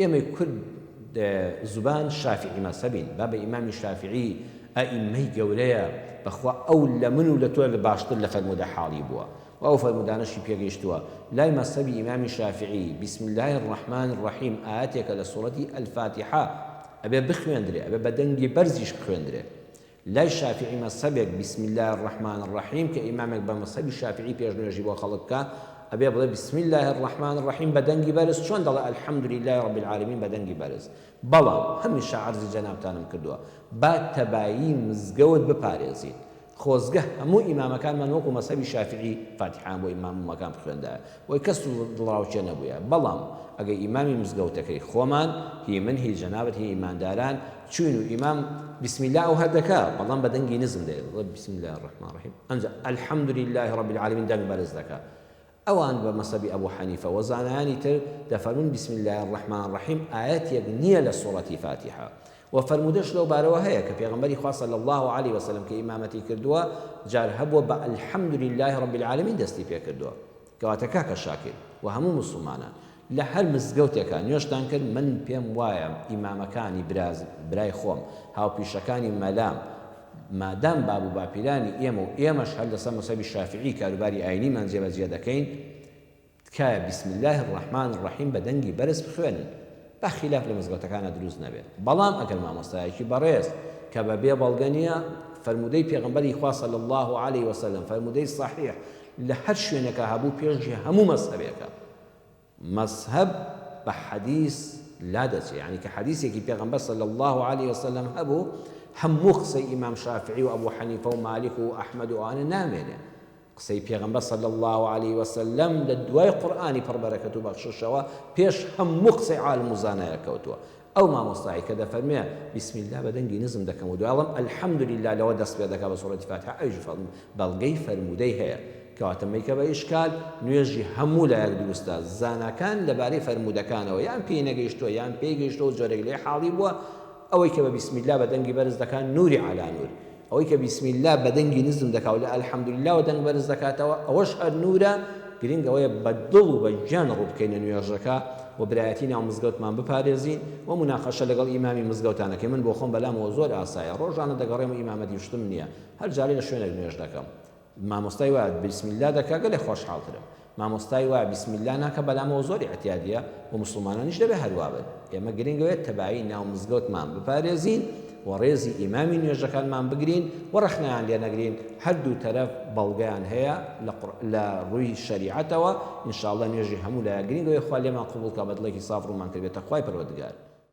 ئێمەی کورد زوبان شافیعی مەزهەبین، بابە ئیمامی شافیعی ئەئیممەی گەورەیە، بەخوا ئەو لە من و لە تۆ باشتر لە فەرموودە حاڵی بووە و ئەو فەرموودانەشی پێگەیشتووە، لای مەزهەبی ئیمامی شافیعی، بسم اللە الرحمن الرحیم ئایەتێکە لە سوڕەتی الفاتحە، ئەبێ بخوێندرێ، ئەبێ بە دەنگی بەرزیش بخوێندرێ. لای شافیعی مەزهەبێک بسم اللە الرحمن الرحیم کە ئیمامێک بە مەزهەبی شافیعی پێش نوێژی بۆ خەڵک بکا ئەبێ بڵێ بسم اللە الرحمن الرحیم بە دەنگی بەرز چۆن دەڵێ الحمد للە رب العالمین بە دەنگی بەرز بەڵام هەمیشە عەرزی جەنابتانم کردووە با تەبایی مزگەوت بپارێزین خۆزگە هەموو ئیمامەکانمان وەکو مەزهەبی شافیعی فاتیحەیان بۆ ئیمام و مەکان بخوێندایە وەی کەس و دڵڕاوکێ نەبوویە بەڵام ئەگەی ئیمامی مزگەوتەکەی خۆمان هی من هی جەنابت هی ئیمانداران چووین و ئیمام بسم اللە ئەوه دەکا بەڵام بە دەنگی نزم دەیڵێ دەڵێ بسم اللە الرحمن الرحیم ئەنجا الحمد للە رب العالمین دەنگ بەرز دەکا ئەوان بە مەسەبی ئەبو حەنیفە و زانایانی تر دەفەرمون بسم اللە الرحمن الرحیم ئایەتێک نییە لە سوڕەتی فاتیحە وە فەرموودەش لەو بارەوە هەیە کە پێغەمبەری خوا صلی اللە علیە و سلم کە ئیمامەتی کردووە جار هەبووە بە الحمد للە رب العالمین دەستی پێ کردووە کەواتە کاکە شاکر و هەموو موسڵمانان لە هەر مزگەوتێکە نوێژتان کرد من پێم وایە ئیمامەکانی براز برای خۆم هاوپیشەکانی مەلام مادام باب و باپیرانی ئێمە و ئێمەش هەر لەسەر مەسەبی شافعی کاروباری ئاینیمان جێبەجێ دەکەین تکایە بسم اللە الرحمن الرحیم بە دەنگی بەرز بخوێنن با خیلاف لە مزگەوتەکانا دروست نەبێت بەڵام ئەگەر مامۆستایەکی بەڕێز کە بە بێ بەڵگە نیە فەرموودەی پێغەمبەری خوا صلی اللە علیە وسلم فەرموودەی صحیح لە هەر شوێنێکا هەبوو پێشی هەموو مەزهەبێکە مەزهەب بە حەدیث لا دەچێ یعنی کە حەدیثێکی پێغەمبەر صلی اللە علیە وسلم هەبوو هەموو قسەی ئیمام شافعی و ئەبو حەنیفە و مالک و ئەحمد و ئەوانە نامێنێ قسەی پێغەمبەر صلی اللە علیە وسلم لە دوای قورئانی پڕ بەرەکەت و بەخششەوە پێش هەموو قسەی عالم و زانایە کەوتووە ئەو مامۆستایە کە دەفەرموێ بسم اللە بە دەنگی نزم دەکەم و دوای ئەڵێم الحمد للە لەوە دەست پێ دەکا بە سورەتی فاتحە ئەویش فەرموو بەڵگەی فەرموودەی هەیە کەواتە مەیکە بە ئیشکال نوێژی هەموو لایەک دروستە زاناکان لەبارەی فەرموودەکانەوە یان پێی نەگەیشتووە یان پێی گەیشتەوە جۆرێک لێ حاڵی بووە ئەوەی کە بە بسم اللە بە دەنگی بەرز دەکا نوری علی نور ئەوەی کە بیسم اللە بە دەنگی نزم دەکا و لە الحمدللەوە دەنگ بەرز دەکاتەوە ئەوەش هەر نوورە، گرنگ ئەوەیە بە دڵ و بە گیان ڕوو بکەینە نوێژەکە و برایەتی ناو مزگەوتمان بپارێزین و موناقەشە لەگەڵ ئیمامی مزگەوتان نەکەین، من بۆخۆم بەلامەوە زۆر ئاسایە، ڕۆژانە دەگەڕێم و ئیمامەتی شتم نییە، هەر جارەی لە شوێنێک نوێژ دەکەم. مامۆستای وا بیسم اللە دەکا گەلێ خۆشحاڵ ترم مامۆستای وا بیسم اللە ناکە بەلام ئەوە زۆر ئیعتیادیە وە موسڵمانانیش دەبێ هەر وابن ئێمە گرنگە وێت تەبایی ناو مزگەوتمان بپارێزین وە ڕێزی ئیمامی نوێژەکانمان بگرین وە ڕەخنەیان لێ نەگرین هەر دوو تەرەف بەڵگەیان هەیە لە قوڕ لە ڕووی شەریعەتەوە ان شاء اللە نوێژی هەموو لایە گرنگە وێ خوا لێمان قبوڵ کا بە دڵێکی ساف ڕوومان کردبێتە خوای پەروەردگار